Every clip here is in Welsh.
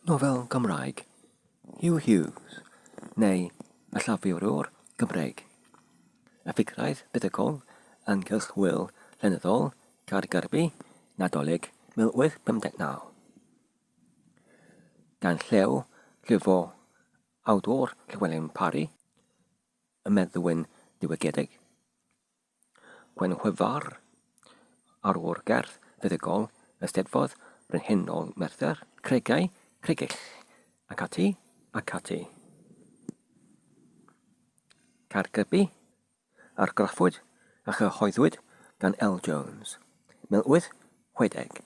Nofel Gymraeg, Huw Hughes, neu y llafurwr Gymreig. Y ffigrau buddugol, ynghylch Wil llenyddol Caergybi, Nadolig 1859. Gan Llew, llyfo awdwr Llewelyn Parry, y meddwyn diwygiedig. Gwenhwyfar, ar ôl gerdd feddygol y Steddfod Brenhinol Merthyr, Cregau, Cregell, ac ati, ac ati. Caergybi, argraffwyd a chyhoeddwyd gan L. Jones, 1860.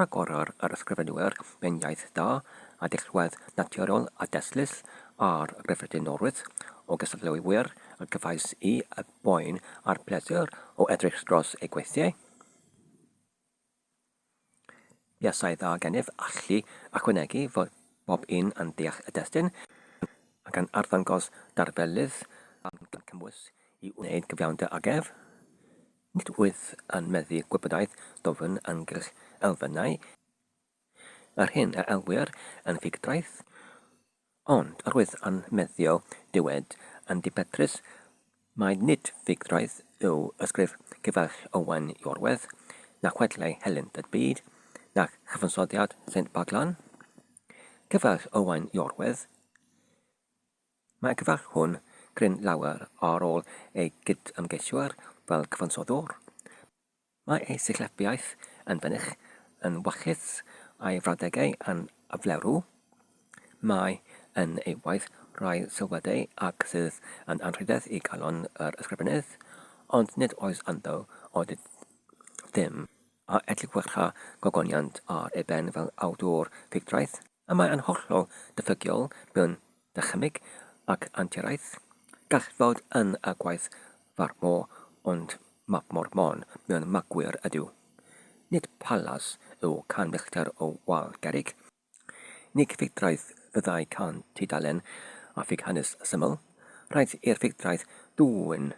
Rhagorwr yr ysgrifenwyr mewn iaith da a dirwedd naturiol a destlus ar gyffredinolrwydd o gystadleuwyr a gefais i y boen a'r pleser o edrych dros eu gweithiau. Buasai dda gennyf allu ychwanegu fod bob un yn deall y destun ac yn arddangos darfelydd a gymwys i wneud cyfiawnder ag ef. Nid wyf yn meddu gwybodaeth dwfn ynghylch elfennau yr hyn a elwir yn ffugdraeth, ond yr wyf yn meddu dywed yn ddibetrus mai nid ffugdraeth yw ysgrif Cyfeirch Owen Iorwerth, na chwedlau helynt y byd, na chyfansoddiad Saint Boglan. Cyfeirch Owen Iorwerth, Mae cyfarchwn gryn lawer ar ôl ei gyd-ymgeiswyr fel cyfansoddwr. Mae ei sillafiaeth yn fynych, yn wachus, a'i frawddegau yn aflewrw. Mae yn ei waith rai sylwadau ac sydd yn anrhydedd i galon yr ysgrifennydd, ond nid oes ynddo odydd ddim a edliwch a gogoniant ar ei ben fel awdwr ffugdraeth. Y mae yn hollol ddiffygiol mewn dychymyg ac anturiaeth. Gall fod yn y gwaith farmo ond mafmor mon mewn magwyr ydyw. Nid palas yw can fillter o wal gerrig. Nig ffugdraeth fyddai can tudalen a ffug hanes syml. Rhaid i'r ffugdraeth ddwyn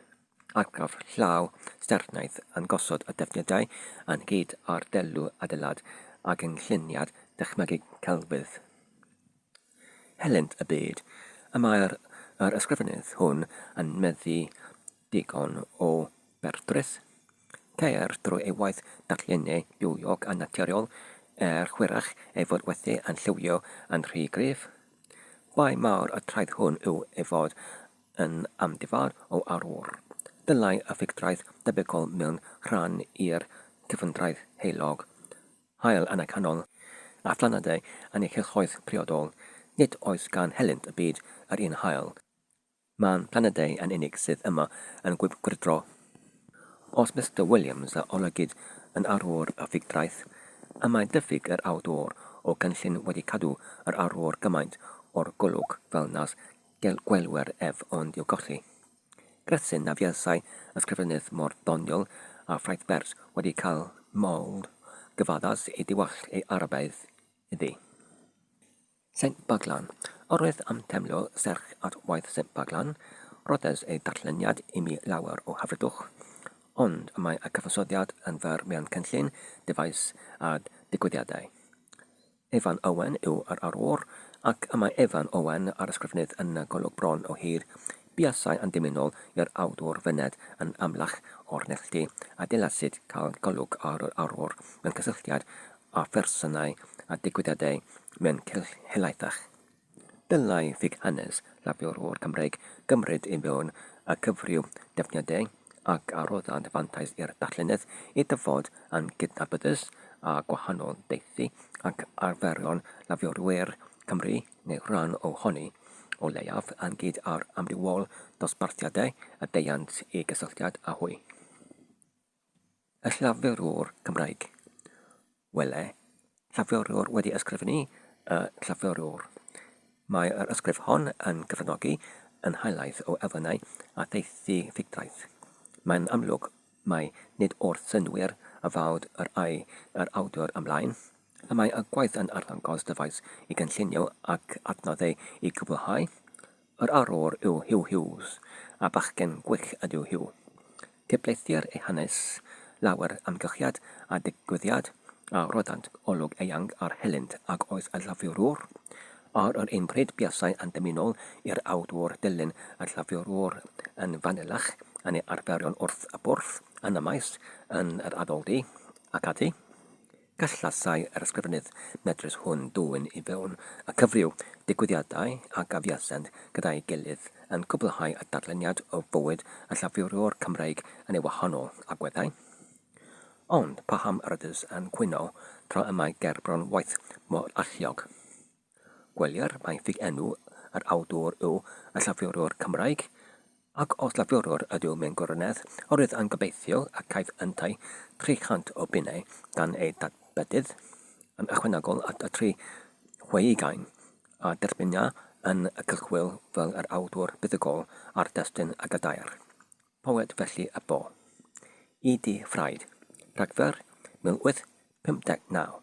Argraff llaw sternaeth yn gosod y defnyddiau ynghyd â'r delw adeilad a gynlluniad dychmygu celfydd. Helynt y byd, y mae'r yr ysgrifennydd hwn yn meddu digon o berdreth. Ceir drwy ei waith darllennu bywiog a naturiol, er hwyrach ei fod wedi yn lliwio yn rhy gryf. Bai mawr y traeth hwn yw ei fod yn amddifad o arwr. Dylai effeithiaeth debygol mewn rhan i'r cyfyndraeth heulog, haul anacanol, a phlanedau yn ei chylchoedd priodol, nid oes gan helynt y byd yr un haul. Mae'n planedau yn unig sydd yma yn gwibgwyrdro. Os Mister Williams a olygid yn arwr effeithiaeth, y mae diffyg yr awdwr o gynllun wedi cadw yr arwr gymaint o'r golwg fel nas Gall gwylwyr ef ond i'w golli. Grethin a fuasai ysgrifennydd mor ddoniol â Ffraeth Bers wedi cael modd gyfaddas i diwallt ei Arabaidd iddi. Saint Baglan. Arwydd am deimlo serch at waith Saint Baglan, rhoddes ei darlleniad i mi lawer o hyfrydwch, ond y mae y cyfansoddiad yn fer mewn cynllun, dyfais a digwyddiadau. Evan Owen yw yr arwr, ac y mae Evan Owen, yr ysgrifennydd yn y golwg bron o hir, buasai yn dymunol i'r awdwr fyned yn amlach o'r neilltu, a dylasid cael golwg ar yr arwr mewn cysylltiad â phersonau a digwyddiadau mewn cylch helaethach. Dylai ffug-hanes labio'r ôl Cymreig gymryd ei fewn a cyfryw defnyddiau ac adroddant fantais i'r darllenydd i ddyfod yn gydnabyddus â gwahanol daethu ac arferion lafiorwyr Cymru neu rhan ohoni, o leiaf, ynghyd â'r amrywiol ddosbarthiadau a deuant i gysylltiad â hwy. Y llafurwr Cymraeg. Wele, llafurwr wedi ysgrifennu y llafurwr. Mae yr ysgrif hon yn cyfranogi yn helaeth o elfennau a theithi ffugdraeth. Mae'n amlwg mai nid wrth synnwyr a fawd yr ai yr awdur ymlaen, y mae y gwaith yn arddangos dyfais i gynllunio ac adnoddau i gwblhau, Yr arwr yw Huw Hughes, a bachgen gwych ydyw Huw. Cydblythir ei hanes, lawer amgylchiad a digwyddiad a roddant olwg eang ar helynt ag oes y llafurwr. Ar yr un pryd buasai yn dymunol i'r awdwr dilyn y llafurwr yn fanylach yn ei arferion wrth y bwrdd, yn y maes, yn yr addoldy, ac ati. Gallasai yr ysgrifennydd medrus hwn dwyn i fewn a cyfryw digwyddiadau a gafiasent gyda'i gilydd, yn cwblhau y darlleniad o fywyd y llafurwr Cymreig yn ei wahanol agweddau. Ond paham yr ydys yn cwyno tra y mae gerbron waith mor alluog? Gwelir mai ffudd-enw yr awdwr yw y Llafurwr Cymraeg, ac os Lafurwr ydyw mewn gwirionedd, yr oedd yn gobeithio y caiff yntau 300 o bunnau gan ei dad-bedydd, yn ychwanegol at y tri chwe ugain a dderbynia yn y cylchwyl fel yr awdwr buddugol ar destun y Gadair. Poet felly y bo. Y du Ffraid, Rhagfyr 1859.